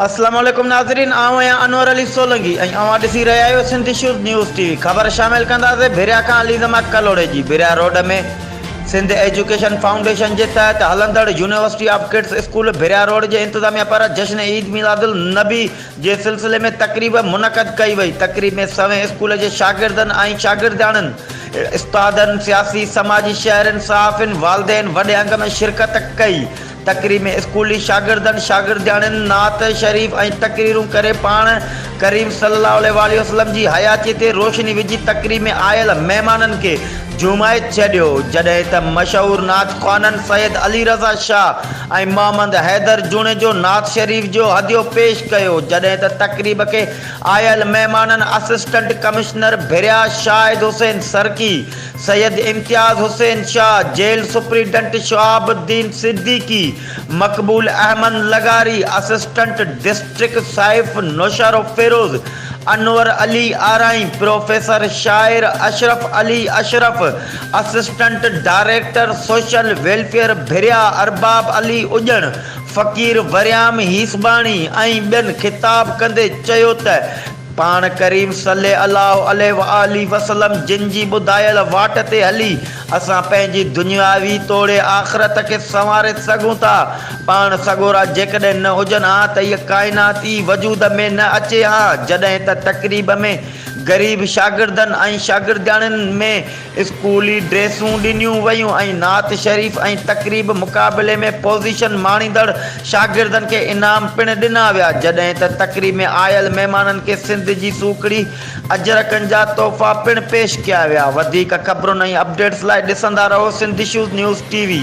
اسلام عليڪم ناظرين آئون آهيان انور علي سولنگي ۽ اوهان ڏسي رهيا آهيو Sindh issues news T V خبر شامل ڪنداسين ڀريا کان عليزما ڪلهوڙي جي Bhiria road ۾ Sindh education foundation جي تحت هلندڙ university of kids school Bhiria road جي انتظاميه پاران جشن عيد ميلاد النبي جي سلسلي ۾ تقريب منعقد ڪئي وئي، تقريب ۾ سوين اسڪول جي شاگردن ۽ شاگردياڻين، استادن، سياسي، سماجي، شهرين، صحافين، والدين وڏي انگ ۾ شرڪت ڪئي، تقريب ۾ اسڪولي شاگردن، شاگردياڻين نعت شريف ۽ تقريرون ڪري پاڻ ڪريم صلي الله عليه واٰله وسلم جي حياتي تي روشني وجهي تقريب ۾ آيل مهمانن کي جمعيت ڇڏيو، جڏهن ته مشهور نعت خوانن سيد علي رضا شاهه ۽ محمد حيدر جوڻيجو نعت شريف جو هديو پيش ڪيو، جڏهن ته تقريب کي آيل مهمانن assistant commissioner Bhiria Shahid Hussain Sarki, Syed Imtiaz Hussain Shah, jail superintendent شهاب الدين صديقي، مقبول احمد لغاري، اسسٽنٽ ڊسٽرڪٽ سائف نوشهروفيروز، انور علي آرائين، پروفيسر شاعر Ashraf Ali Ashraf, assistant director social welfare Bhiria Arbab Ali اڄڻ، فقير وريام هيسباڻي ۽ ٻين خطاب ڪندي چيو ته پاڻ ڪريم صلي الله عليه وآله وسلم جن جي ٻڌايل واٽ تي هلي اسان پنهنجي دنياوي توڙي آخرت کي سنواري سگهون ٿا. پاڻ سڳورا جيڪڏهن نه هجن ها ته هيء ڪائنات ئي وجود ۾ نه اچي ها. جڏهن ته تقريب ۾ غريب شاگردن ۽ شاگردياڻين ۾ اسڪولي ڊريسون ڏنيون ويون ۽ نعت شريف ۽ تقريب مقابلي ۾ پوزيشن ماڻيندڙ شاگردن کي انعام پڻ ڏنا ويا. جڏهن ته تقريب ۾ آيل مهمانن کي سنڌ جي سوکڙي اجرڪن جا تحفا پڻ پيش ڪيا ويا وڌيڪ خبرن ۽ اپڊيٽس لاء ڏسندا رهو Sindh issues news T V.